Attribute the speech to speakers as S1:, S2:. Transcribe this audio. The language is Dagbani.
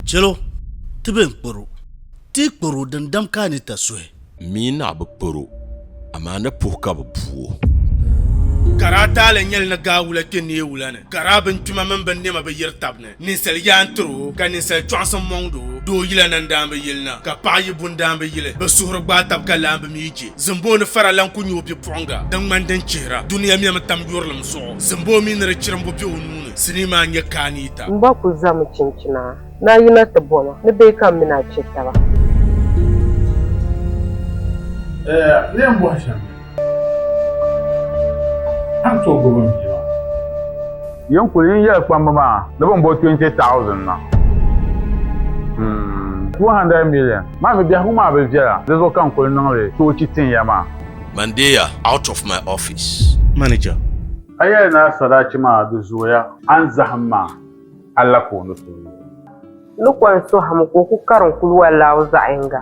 S1: Chɛlo, ti bɛn kpɔr o, ti yi kpɔr o dindam ka a ni ta suhi. Mi ni a bi kpɔr
S2: o, amaa ni puhi ka bɛ bu o. Ka
S3: daa taali nyɛli ni gaa wula kpe neei wula ni, ka daa bingbima mini binnɛma bi yiri tab ni, ninsal yaa n-tir o, ka ninsal chɔɣisim mɔŋd o. Doo yila na n-daan bi yili na, ka paɣ yi bu n-daan bi yili. Bɛ suhuri gbaai tab ka laambi mi je. Zimboo ni fara lan ku nyɛ o bipuɣiŋga din ŋmani din chihira dunia mɛmi tam yurilim zuɣu. Zimboo mi ni di chirimbu be o nuu ni, sinii maa n-nyɛ Kaanita. M ba ku zami
S4: chinchina ni a yina ti bo ma ni bee ka m mini a che taba.
S5: Eya leen bɔhi shɛm ni a ni tooi gbubi m bia maa.
S6: Yin kuli yin yɛli kpamba maa ni bɛ ni bo 20,000 na. Hmm, 200 million maa mi biɛhigu maa bi viɛla, di zuɣu ka n kuli niŋ li toochi tin ya maa. Man deeya
S2: out of my office. Manager.
S3: A yɛli ni
S6: a sadachi maa di zooya, a ni zahim ma a la ka o ni tooi. Ni
S4: kɔŋ sohim ka o ku karim kuluwa laaw zaɣ yiŋga.